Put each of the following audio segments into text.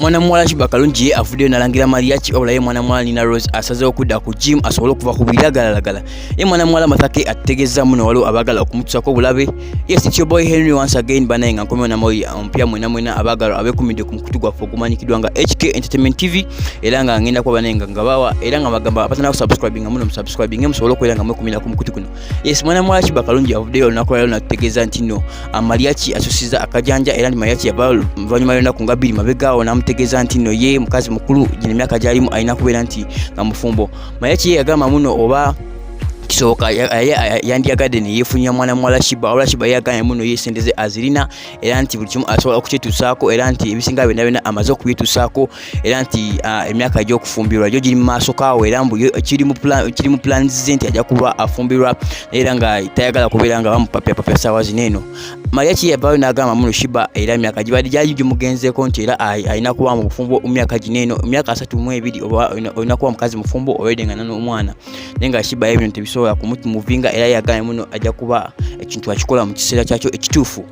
mwana muwala Shiba Kalungi ye avuddeyo nalangira Mariachi wabula ye mwana muwala Nina Rose asazeewo okudda ku gym asobole okuva ku biragalalagala ye mwana muwala Mathake ategezza muno waliwo abaagala okumutusako obulabe yes it's your boy Henry once again banaye nga nkomewo namoyi omupya mwena mwena abaagalwa abekumidde ku mukutu gwaffe ogumanyikiddwa nga HK Entertainment TV era nga ngenda kuba banaye nga ngabawa era nga bagamba abatana kusubscribinga muno musubscribinge musobole okubeera nga mwekumira ku mukutu guno Yes, mwana mwaki bakalungi avuddeyo olunaku lwalero natutegeeza nti no amaliaki asusiza akajanja era ni maliaki yava luvannyuma y'olunaku nga bbiri mabegaawo n'amutegeeza nti no ye mukazi mukulu gino emyaka gyalimu alina kubeera nti nga mufumbo maliaki ye yagamba muno oba kisoboka yandiyagadde neyefunira mwana muwala shiba olwa shiba yaganye muno ye sente ze azirina era nti buli kimu asobola okukitusaako era nti ebisinga byonna byonna amaze okubitusaako era nti ah, emyaka ajja okufumbirwa jo giri mu maaso kaawo era mbu kiri mu plans ze nti ajja kuba afumbirwa era nga tayagala kubeera nga bamupapyapapya saawa zino eno maria ki yavaayo n'agamba muno shiba era emyaka gibadde gyali gimugenzeeko nti era alina kuba mu bufumbo mu myaka gino eno emyaka asatu mu ebiri olina kuba mukazi mufumbo obeedenga nanomwana naye nga shiba ebyo tebisobola kumutimuvinga era yagambye muno ajja kuba ekintu akikola mu kiseera kyakyo ekituufu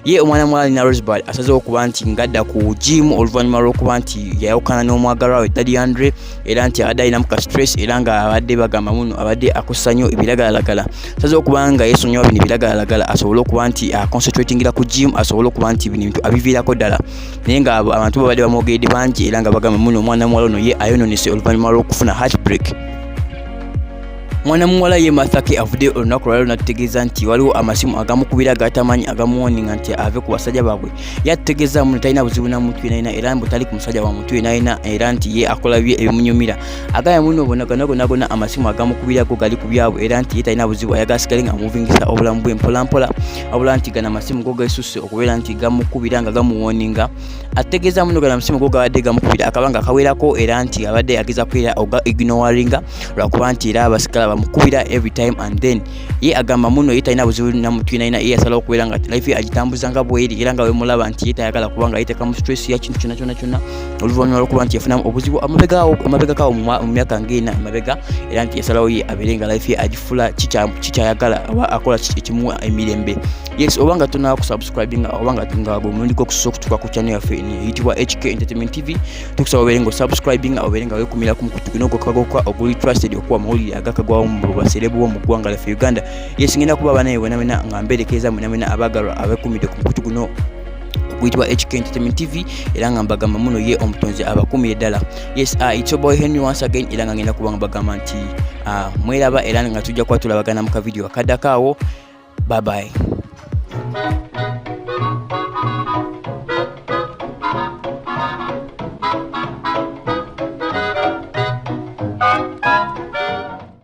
ye omwana muwala alina rosebud asazeho okuba nti ngadda ku jimu oluvannyuma lw'okuba nti yayawukana n'omwagalwa we dadi andre era nti abadde alinamu ka stress era nga abadde bagamba muno abadde akosa nnyo ebiragalalagala asazeho okuba nga yesonyiwa bino ebiragalalagala asobole okuba nti aconcentratingira ku jimu asobole okuba nti bino ebintu abiviirako ddala naye nga abantu babadde bamwogeredde bangi era nga bagamba muno omwana muwala ono ye ayononese oluvannyuma lw'okufuna heartbreak mwana muwala ye mathake avudde olunaku lwaliro natutegeeza nti waliwo amasimu agamukubira gatamanyi agamuwoninga nti ave ku basajja baabwe yatutegeeza muno talina buzibu na muntu yenayina era mbu tali ku musajja wa muntu yenayina era nti ye akola bye ebimunyumira agaya muno bona ganagonagona amasimu agamukubira go gali ku byabwe era nti ye talina buzibu ayagala sigale nga amuvingisa obulamu bwe mpolampola wabula nti gana amasimu go gesusse okubeera nti gamukubira nga gamuwoninga ategeeza muno gana amasimu go gabadde gamukubira akabanga akawerako era nti abadde ageza kuera oga ignoringa lwakuba nti era abasikala bamukubira every time and then ye agamba muno ye talina buzibu namutwinalina ye yasalawo okubeera nga life agitambuza nga bweri era nga wemulaba nti ye tayagala kubanga yetekamu stress ya kintu kyona kyona kyona oluvannyuma lwokuba nti yafunamu obuzibu amabegakawo mu myaka ngaena emabega era nti yasalawo ye abeere nga life ye agifula kikyayagala oba akola ekimuwa emirembe yes oba nga tuna kusubscribinga oba nga omulundi gwokusosa okutuka ku channel yaffe eyitibwa hk entertainment tv tukusaba obeere nga osubscribinga obeere nga wekumira ku mukutu guno gwokakagoka oguli trusted okuwa amawulire agakagwawo mu baserebu bo mu ggwanga laffe uganda yes ngenda kuba abanaye wenawena nga mberekereza mwenawena abagalwa abekumidde ku mukutu guno guyitibwa HK Entertainment TV era nga mbagamba muno ye omutonzi abakumire ddala yes uh, it's your boy Henry once again era nga ngenda kuba nga bagamba nti uh, ah, mweraba era nga tujja kuba tulabagana mu kavidiyo akaddako awo bye bye